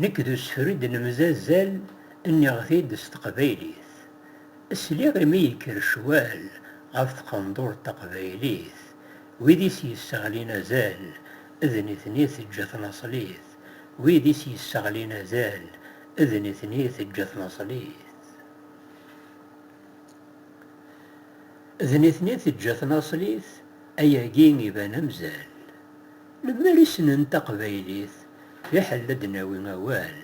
Nekk d usefru i d-nemzazal nniɣ-t-id s teqbaylit. Sliɣ imi yekker ccwal ɣef tqendurt taqbaylit, wid i s-yesseɣlin azal d nitni i teǧǧa tnaṣlit, wid i s-yesseɣlin azal d nitni i teǧǧa tnaṣlit. D nitni teǧǧa tnaṣlit ayagi iban amzal. Lemmer i ssnen taqbaylit fiḥel ad d-nawi awal.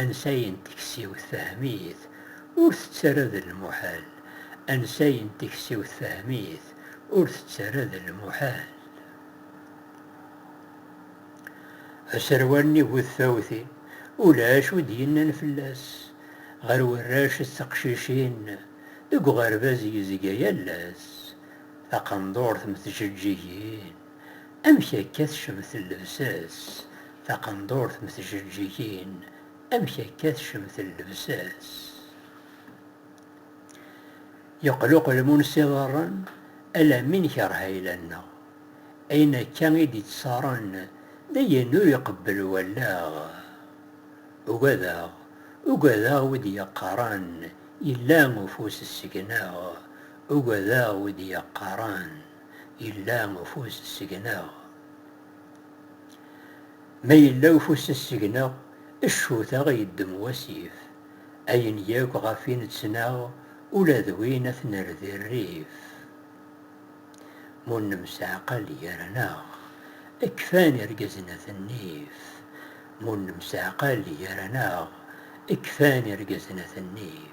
Ansay n teksiwt fehem-it ur tettara d lmuḥal Ansay n teksiwt fehem-it ur tettara d lmuḥal. Aserwal-nni bu tfawtin, ulac wi d-yennan fell-as. Ɣer warrac d teqcicin, deg uɣerbaz yezga yal ass. Taqendurt mm tjeǧǧigin, amek akka tecmet llebsa-s, taqendurt mm tjeǧǧigin, amek akka tecmet llebsa-s. Yeqluqel Munsi Ḍerren, alammi nekreh ayla-nneɣ. Ayen akka i d-iţţaṛen dayen ur iqebbel wallaɣ. Ugadeɣ, ugadeɣ wi d-yaqqaṛen yella ufus seg-neɣ, ugadeɣ wi d-yaqqaṛen yella ufus seg-neɣ. Ma yella ufus seg-neɣ, ccut-a i yeddem wasif, ayen yakk ɣef i neţnaɣ ula d win a t-nerr di rrif. Ma ur nemseɛqal gar-aneɣ, kfan irgazen a t-nnif. Ma ur nemseɛqal gar-aneɣ, kfan irgazen a t-nnif.